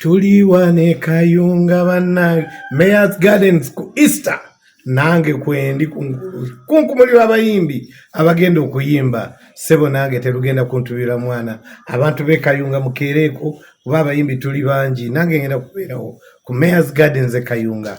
tuliwa ne kayunga bannange mayors gardens ku easter nange kwendi kunkumuli lwabayimbi abagenda okuyimba sebo nange terugenda kuntubira mwana abantu bekayunga mukeereeko kuba abayimbi tuli bangi nange ngenda kubeerawo ku mayors gardens ekayunga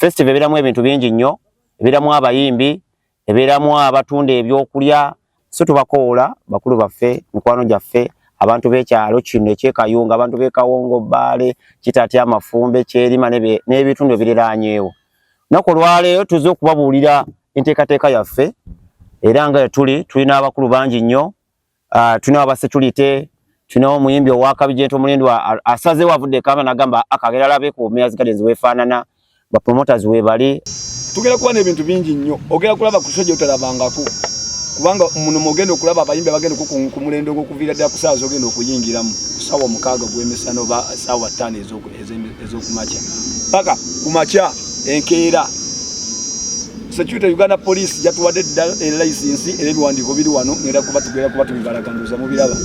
Festival ebeeramu ebintu bingi nnyo, ebeeramu abayimbi, ebeeramu abatunda ebyokulya. So tubakowoola bakulu baffe, mikwano gyaffe, abantu b'ekyalo kino ekyekayunga, abantu b'e Kawongo, Bbaale, Kitati, Amafumbe, Kyerima n'ebitundu ebiriraanyeewo. Naku olwaleero tuze okubabuulira enteekateeka yaffe era nga tuli tulina abakulu bangi nnyo uh, tulinawo aba security tulinawo omuyimbi owakabi jento mulindwa asazewo avudde ekamba nagamba akagera labe ku mayors gardens wefaanana bapromoters webali tugenda kuba n'ebintu bingi nnyo ogenda kulaba ku soja otalabangako kubanga muno mugenda okulaba abayimbi abagenda ku mulendo ogwokuviira ddala ku saawa zogenda okuyingiramu ku saawa omukaaga ogw'emisana oba saawa ttaano ez'oku ezokumakya paka kumakya enkeera security uganda police yatuwadde dda elayisinsi era ebiwandiiko biri wano ngenda kuba tugenda kuba tubibalaganduza mubiraba